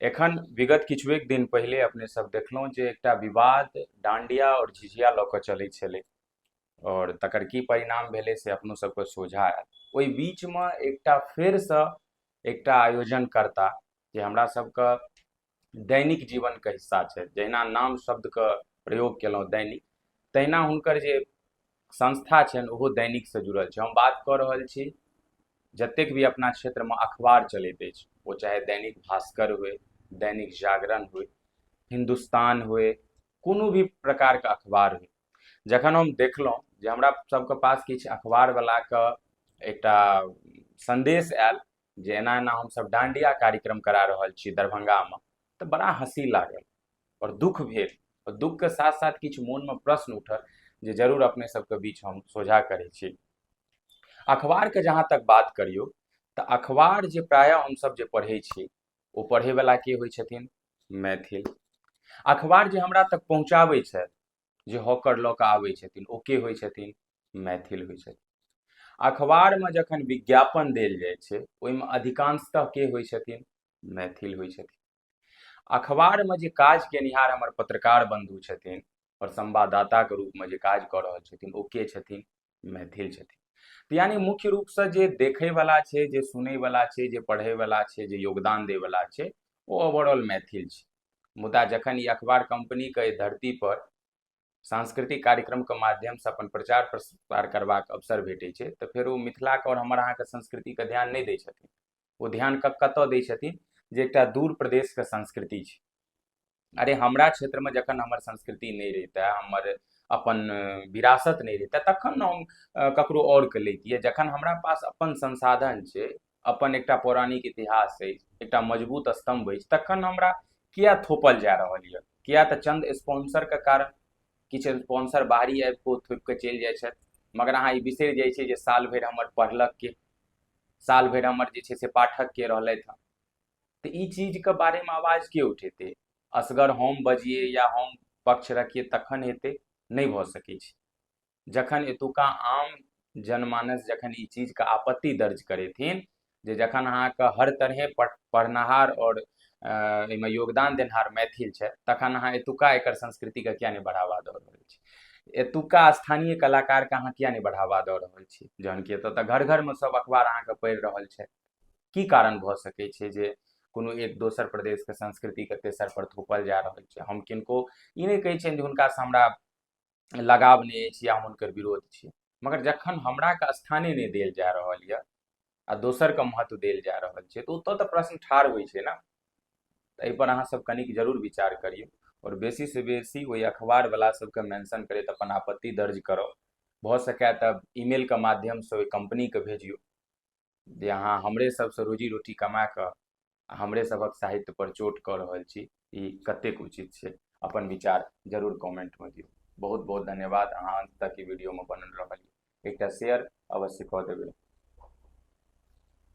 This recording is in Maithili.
एखन विगत किछु एक दिन पहिले अपने सब देखलहुँ जे एकटा विवाद डांडिया आओर झिझिया लऽ कऽ चलै छलै आओर तकर की परिणाम भेलै से अपनो सबके सोझा आयल ओहि बीचमे एकटा फेरसँ एकटा आयोजन करता जे हमरा सबके दैनिक जीवनके हिस्सा छै जहिना नाम शब्दके प्रयोग केलहुँ दैनिक तहिना हुनकर जे संस्था छनि ओहो दैनिकसँ जुड़ल छै हम बात कऽ रहल छी जतेक भी अपना क्षेत्रमे अखबार चलैत अछि ओ चाहे दैनिक भास्कर हुए दैनिक जागरण हुए हिन्दुस्तान हुए कोनो भी प्रकारके अखबार हुए जखन हम देखलहुँ जे हमरा सबके पास किछु अखबारवलाके एकटा सन्देश आयल जे एना एना हमसभ डांडिया कार्यक्रम करा रहल छी दरभंगामे तऽ बड़ा हँसी लागल आओर दुख भेल आओर दुखके साथ साथ किछु मोनमे प्रश्न उठल जे जरूर अपने सबके बीच हम सोझा करै छी अखबारके जहाँ तक बात करियौ तऽ अखबार जे प्रायः हमसभ जे पढ़ै छी ओ पढ़ैवला के होइ छथिन मैथिल अखबार जे हमरा तक पहुँचाबै छथि जे हॉकर लऽ कऽ आबै छथिन ओ के होइ छथिन मैथिल होइ छथिन अखबारमे जखन विज्ञापन देल जाइ छै ओहिमे अधिकांशतः के होइ छथिन मैथिल होइ छथिन अखबारमे जे काज केनिहार हमर पत्रकार बन्धु छथिन आओर संवाददाताके रूपमे जे काज कऽ रहल छथिन ओ के छथिन मैथिल छथिन तऽ यानि मुख्य रूपसँ जे देखैवला छै जे सुनैवला छै जे पढ़ैवला छै जे योगदान दैवला छै ओ ओवरऑल मैथिल छै मुदा जखन ई अखबार कम्पनीके एहि धरतीपर सांस्कृतिक कार्यक्रमके माध्यमसँ अपन प्रचार प्रसार करबाक अवसर भेटै छै तऽ फेर ओ मिथिलाके आओर हमर अहाँके संस्कृतिके ध्यान नहि दै छथिन ओ ध्यान कतय दै छथिन जे एकटा दूर प्रदेशके संस्कृति छै अरे हमरा क्षेत्रमे जखन हमर संस्कृति नहि रहिते हमर अपन विरासत नहि रहिते तखन हम ककरो आओरके लैतियै जखन हमरा पास अपन संसाधन छै अपन एकटा पौराणिक इतिहास अछि एकटा मजबूत स्तंभ अछि तखन हमरा किया थोपल जा रहल यऽ किया तऽ चंद स्पॉन्सरके कारण किछु स्पॉन्सर बाहरी आबि कऽ थोपि कऽ चलि जाइ छथि मगर अहाँ ई बिसरि जाइ छियै जे साल भरि हमर पढ़लक के साल भरि हमर जे छै से पाठक के रहलथि हँ तऽ ई चीजके बारेमे आवाज के उठेतै असगर हम बजिए या हम पक्ष रखिए तखन हेतै नहि भऽ सकै छै जखन एतुका आम जनमानस जखन ई चीजके आपत्ति दर्ज करेथिन जे जखन अहाँके हर तरहे पढ़नाहार आओर एहिमे योगदान देनहार मैथिल छै तखन अहाँ एतुका एकर संस्कृतिके किया नहि बढ़ावा दऽ रहल छी एतुका स्थानीय कलाकारके अहाँ किया नहि बढ़ावा दऽ रहल छी जहन कि एतऽ तऽ घर घरमे सब अखबार अहाँके पढ़ि रहल छै की कारण भऽ सकै छै जे कोनो एक दोसर प्रदेशके संस्कृतिके तेसर पर थोपल जा रहल छै हम किनको ई नहि कहै छियनि जे हुनकासँ हमरा लगाव नहि अछि या हम हुनकर विरोध छी मगर जखन हमरा के स्थाने नहि देल जा रहल यऽ आ दोसर के महत्व देल जा रहल छै तऽ ओतऽ तऽ प्रश्न ठाढ़ होइ छै ने तऽ एहिपर अहाँ सब कनिक जरूर विचार करियौ आओर बेसी से बेसी ओहि अखबार वाला सबके मेंशन करैत अपन आपत्ति दर्ज करब भऽ सकए तऽ ईमेल के माध्यम से ओहि कंपनी के भेजियौ जे अहाँ हमरे सबसँ रोजी रोटी कमा कऽ आ हमरे सभक साहित्य पर चोट कऽ रहल छी ई कतेक उचित छै अपन विचार जरूर कमेंटमे दियौ बहुत बहुत धन्यवाद अहाँ अंत तक ई वीडियोमे बनल रहल एकटा शेयर अवश्य कऽ देबै